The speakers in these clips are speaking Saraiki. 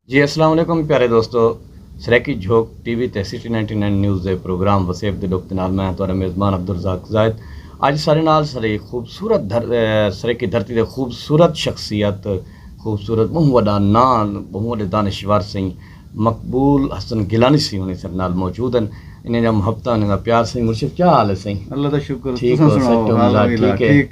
جی اسلام علیکم پیارے دوستو سرائیکی جھوک ٹی وی تے سٹی نائنٹی نائن نیوز دے پروگرام وسیب دے ڈکھ دے نال میں ہاں تہاڈا میزبان عبدالرزاق زاہد اج سارے نال سرائیکی خوبصورت سرائیکی دھرتی دے خوبصورت شخصیت خوبصورت بہوں وڈا ناں بہوں وڈے دانشور سئیں مقبول حسن گیلانی سئیں ہونی سارے نال موجود ہن انہاں دیاں محبتاں انہاں دا پیار سئیں مرشد کیا حال ہے سئیں اللہ دا شکر تساں سناؤ حال ٹھیک ہے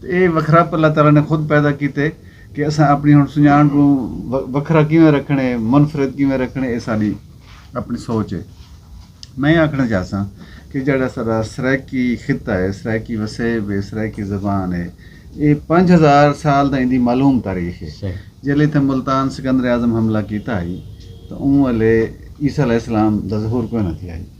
تے ایہ وکھراپ اللہ تعالی نے خود پیدا کیتے کہ اساں اپݨی ہݨ سنڄاݨ کوں وکھرا کیویں رکھݨے منفرد کیویں رکھݨے ایہ ساݙی اپݨی سوچ ہے میں ایہ آکھݨا چاہساں کہ جیڑھا ساݙا سرائیکی خطہ ہے سرائیکی وسیب ہے سرائیکی زبان ہے ایہ پنج ہزار سال دا ایندی معلوم تاریخ ہے جیلے اتھاں ملتان سکندر اعظم حملہ کیتا ہئی تاں اوں ویلے عیسی علیہ السلام دا ظہور کوئنہ تھیا ہئی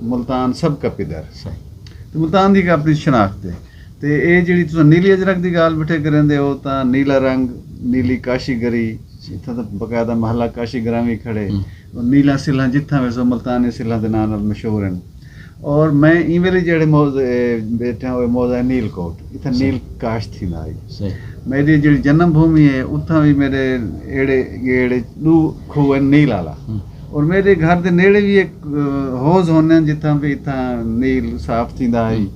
ملتان سب کا پدر سائیں تے ملتان دی اپنی شناخت ہے تے اے جیڑی تساں نیلی اجرک دی گال بٹھے کریندے ہو تاں نیلا رنگ نیلی کاشی گری اتھاں تاں باقاعدہ محلہ کاشی گراں وی کھڑے اور نیلاں سلھاں جتھاں ویسو ملتانی سلھاں دے ناں نال مشہور ہن اور میں ایں ویلے جیڑے موز بیٹھا ہوں موز ہے نیل کوٹ اتھاں نیل کاش تھی نہ آئی میری جیڑی جنم بھومی ہے اتھاں بھی میرے ایڑے گیڑے دو کھو ہیں نیل آلا اور میڈے گھر دے نیڑے وی ہک حوض ہونن جتھاں پہ اتھاں نیل صاف تھیندا ہئی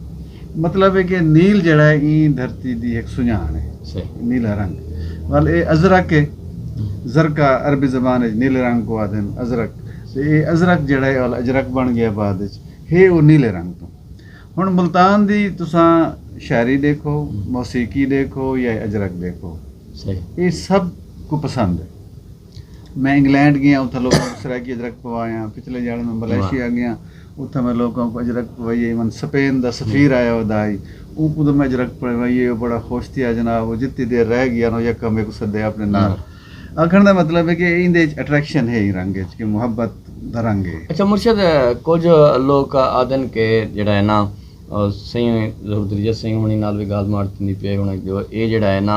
مطلب ہے کہ نیل جڑا ہے ایں دھرتی دی ہک سنجان ہے نیلا رنگ ول اے ازرق ہے زرقا عربی زبان اچ نیلے رنگ کو آدھن ازرق تے اے ازرق جڑا ہے ول اجرق بن گیا بعد اچ ہے او نیلے رنگ تو ہن ملتان دی تساں شاعری دیکھو موسیقی دیکھو یا اجرق دیکھو اے سب کو پسند ہے میں انگلینڈ گیاں اتھاں لوکاں کوں سرائیکی اجرک پوایا پچھلے جھیاڑے میں ملائیشیا گیاں اتھاں میں لوکاں کوں اجرک پوائیے من سپین دا سفیر آیا ہو دا ہئی اونکوں تو میں اجرک پوائیے او بڑا خوش تھیا جناب او جتی دیر رہ گیا نو یکا میکوں سدے اپنے نال آکھن دا مطلب ہے کہ ایندے اچ اٹریکشن ہے ہی رنگ اچ کہ محبت دا رنگ ہے۔ اچھا مرشد کجھ لوک آدھن کہ جیڑا ہے نا سئیں ظہور دریجہ سئیں ہونی نال وی گالھ ماٹ تھیندی پی ہے ہن اے جیڑا ہے نا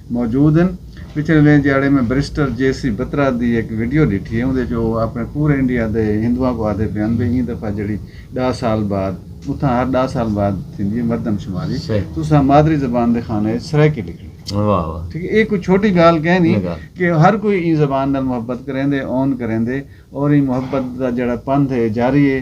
موجود ہن۔ پچھلے ݙینھ جھیاڑے میں بریسٹر جے سی بترا دی ہک ویڈیو ݙٹھی ہے اوندے وچ او اپݨے پورے انڈیا دے ہندواں کوں آہدے پئے ہن بھئی ایں دفعہ جیڑھی ݙاہ سال بعد اتھاں ہر ݙاہ سال بعد تھیندی ہے مردم شماری تساں مادری زبان دے خانہ وچ سرائیکی لکھݨی ٹھیک ہے اے کوئی چھوٹی گالھ کینی کہ ہر کوئی ایں زبان نال محبت کریندے اون کریندے اور ایں محبت دا جیڑھا پندھ ہے جاری ہے۔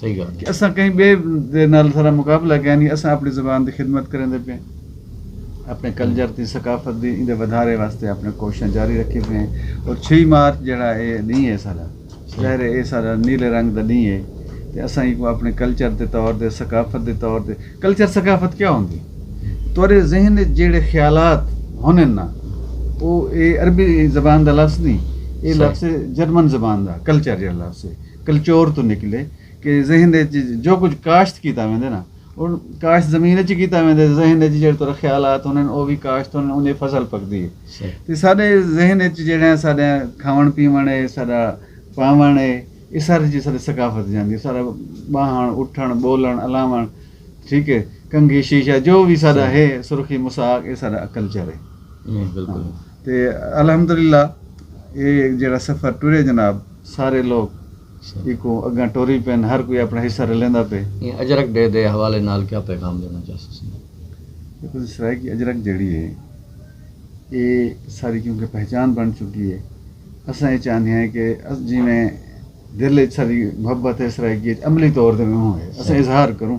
صحیح گالھ کہ اساں کہیں بئے دے نال ساڈا مقابلہ کائے نی اساں اپنی زبان دی خدمت کریندے پئے ہیں اپنے کلچر تے ثقافت دی ایندے ودھارے واسطے اپنے کوششاں جاری رکھیں پئے ہیں اور چھ مارچ جیڑھا اے ڈینہہ اے ساڈا ظاہر اے اے ساڈا نیلے رنگ دا ڈینہہ اے تے اساں ایکوں اپنے کلچر دے طور تے ثقافت دے طور تے کلچر ثقافت کیا ہوندی تہاڈے ذہن وچ جیڑھے خیالات ہونن نا او اے عربی زبان دا لفظ نی اے لفظ اے جرمن زبان دا کلچر جیڑھا لفظ اے۔ کلچور توں نکلے کہ ذہن دے وچ جو کچھ کاشت کیتا ویندے نا او کاشت زمین وچ کیتا ویندے ذہن دے وچ جڑے تورا خیالات ہونن او وی کاشت ہونن اون دی فصل پکدی ہے تے ساڈے ذہن وچ جڑے ساڈے کھاون پیون ہے ساڈا پاون ہے اے سارے چیز ساڈے ثقافت جاندی ہے سارا باہن اٹھن بولن الاون ٹھیک ہے کنگھی شیشہ جو وی ساڈا ہے سرخی مساق اے ساڈا کلچر ہے بالکل تے الحمدللہ اے جیڑھا سفر ٹرے جناب سارے لوک ایکوں اگاں ٹری پن ہر کوئی اپنا حصہ رلیندا پے۔ ایں اجرک ڈے دے حوالے نال کیا پیغام ڈینا چاہسیسن؟ دیکھو جی سرائیکی اجرک جیڑھی ہے اے ساری کیونکہ پہچان بن چکی ہے اساں اے چاہنے ہیں کہ جیویں دل اچ ساڈی محبت ہے سرائیکی اچ عملی طور تے اوہوں ہے اساں اظہار کروں۔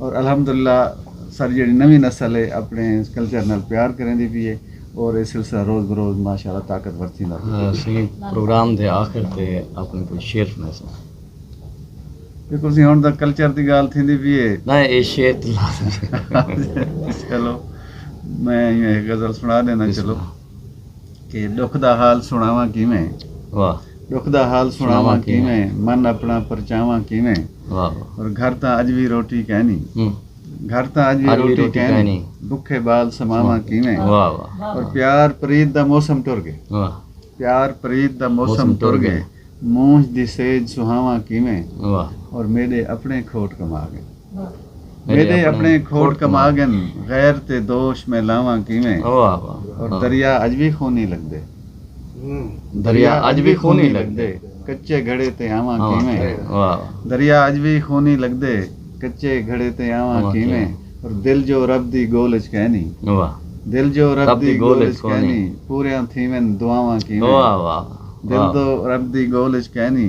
اور الحمدللہ ساری جیڑی نوی نسل ہے اپنے کلچر نال پیار کریں دی بھی ہے اور یہ سلسلہ روز بروز ماشاءاللہ طاقتور تھیندا پیا ہاں، سنگی پروگرام دے آخر تے اپنے کوئی شعر سنا سا دیکھو سی ہن دا کلچر دی گال تھیندی بھی ہے نہ اے شعر تے لازم ہے۔ چلو میں ایک غزل سنا دینا چلو کہ ݙکھ دا حال سݨاواں کیویں واہ ݙکھ دا حال سݨاواں کیویں من اپݨا پرچاواں کیویں واہ اور گھر تاں اڄ وی روٹی کینی گھر تاں اڄ وی روٹی کینی بکھے بال سماواں کیویں واہ واہ اور پیار پرید دا موسم ٹر گئے واہ پیار پرید دا موسم ٹر گئے مونجھ دی سیج سہاواں کیویں واہ اور میڈے اپنے کھوٹ کما گئے میݙے اپݨے کھوٹ کما ڳن غیر تے دوش میں لاواں کیویں اور دریا اڄ وی خونی لڳدے دریا اڄ وی خونی لڳدے کچے گھڑے تے آواں کیویں دریا اڄ وی خونی لڳدے کچے گھڑے تے آواں کیویں اور دل جو رب دی گول اچ کینی دل جو رب دی گول اچ کینی پوریاں تھیون دعاواں کیویں دل دو رب دی گول اچ کینی